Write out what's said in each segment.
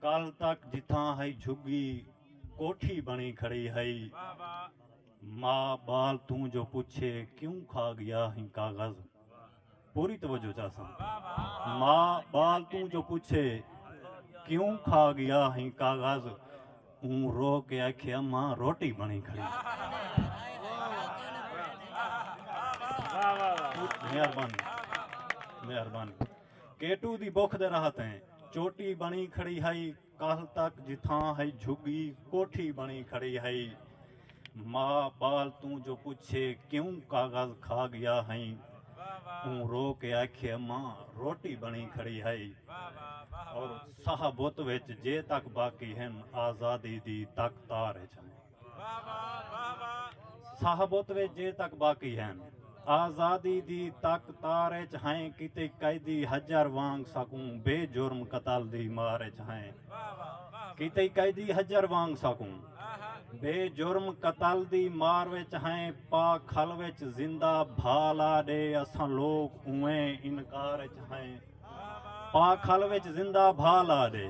کل تک جتھاں ہئی جھگی کوٹھی بݨی کھڑی ہئی۔ ماء ٻال توں جو پچھے کیوں کھا گیا ہیں کاغذ پوری توجہ چاساں ماء ٻال توں جو پچھے کیوں کھا گیا ہیں کاغذ اوں رو کے آکھے اماں روٹی بݨی کھڑی مہربانی مہربانی کیٹو دی بکھ دے راہ تیں چوٹی بݨی کھڑی ہئی کالھ تک جتھاں ہئی جھگی کوٹھی بݨی کھڑی ہئی ماء بال توں جو پچھے کیوں کاغذ کھا گیا ہئی اوں رو کے آکھے ماں روٹی بݨی کھڑی ہئی اور ساہ بت وچ جے تک باقی ہن آزادی دی تک تار اچ ہن صاحب اتوے جے تک باقی ہن آزادی دی تک تار اچ ہائیں کیتے قیدی حجر وانگ ساکوں بے جرم قتل دی مار اچ ہائیں کیتے قیدی حجر وانگ ساکوں بے جرم قتل دی مار وچ ہائیں پا کھل وچ زندہ بھالا ڈے اساں لوگ اویں انکار اچ ہائیں پاکھل وچ زندہ بھا لا ݙے۔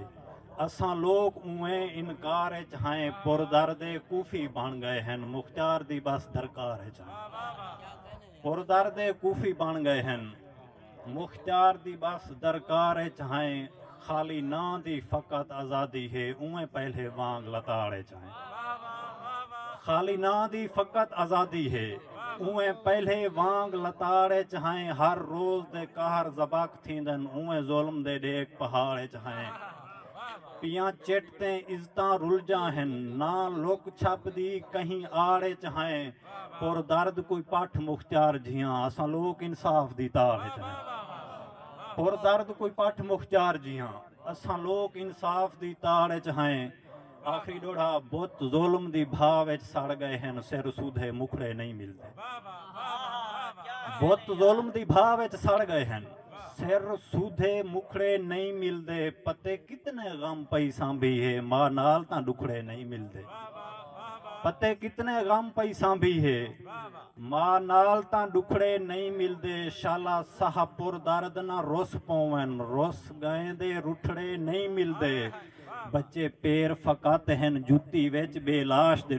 اساں لوک اونویں انکار اچ ہائیں پر درد کوفی بݨ ڳئے ہن مختیار دی ٻس درکار اچ ہائیں پر درد کوفی بݨ ڳئے ہن مختیار دی ٻس درکار اچ ہائیں خالی ناں دی فقط آزادی ہے اونویں پہلے وانگ لتاڑ اچ خالی ناں دی فقط آزادی ہے اویں پہلے وانگ لتاڑ اچ ہائیں ہر روز دے قہر زباک تھیندن اویں ظلم دے ڈیک پہاڑ اچ ہائیں پیاں چٹ تیں عزتاں رلجاں ہن ناں لک چھپ دی کہیں آڑ اچ ہائیں پر درد کوئی پٹھ مختیار جھیاں اساں لوک انصاف دی تاڑ اچ ہائیں پر درد کوئی پٹھ مختیار جھیاں اساں لوک انصاف دی تاڑ اچ ہائیں آخری ݙوڑھا بت ظلم دی بھا وچ سڑ ڳئے ہن سر سودھے مکھڑے نئیں ملدے بت ظلم دی بھا وچ سڑ ڳئے ہن سر سودھے مکھڑے نئیں ملدے پتے کتنے غم پئی سانبھی ہے ماء نال تاں ݙکھڑے نئیں ملدے پتے کتنے غم پئی سانبھی ہے ما نال تاں ڈکھڑے نئیں ملدے شالا ساہ پر درد نہ رس پوون رس گئیں دے رٹھڑے نئیں ملدے بچے پیر فقط ہن جتی وچ بے لاش دے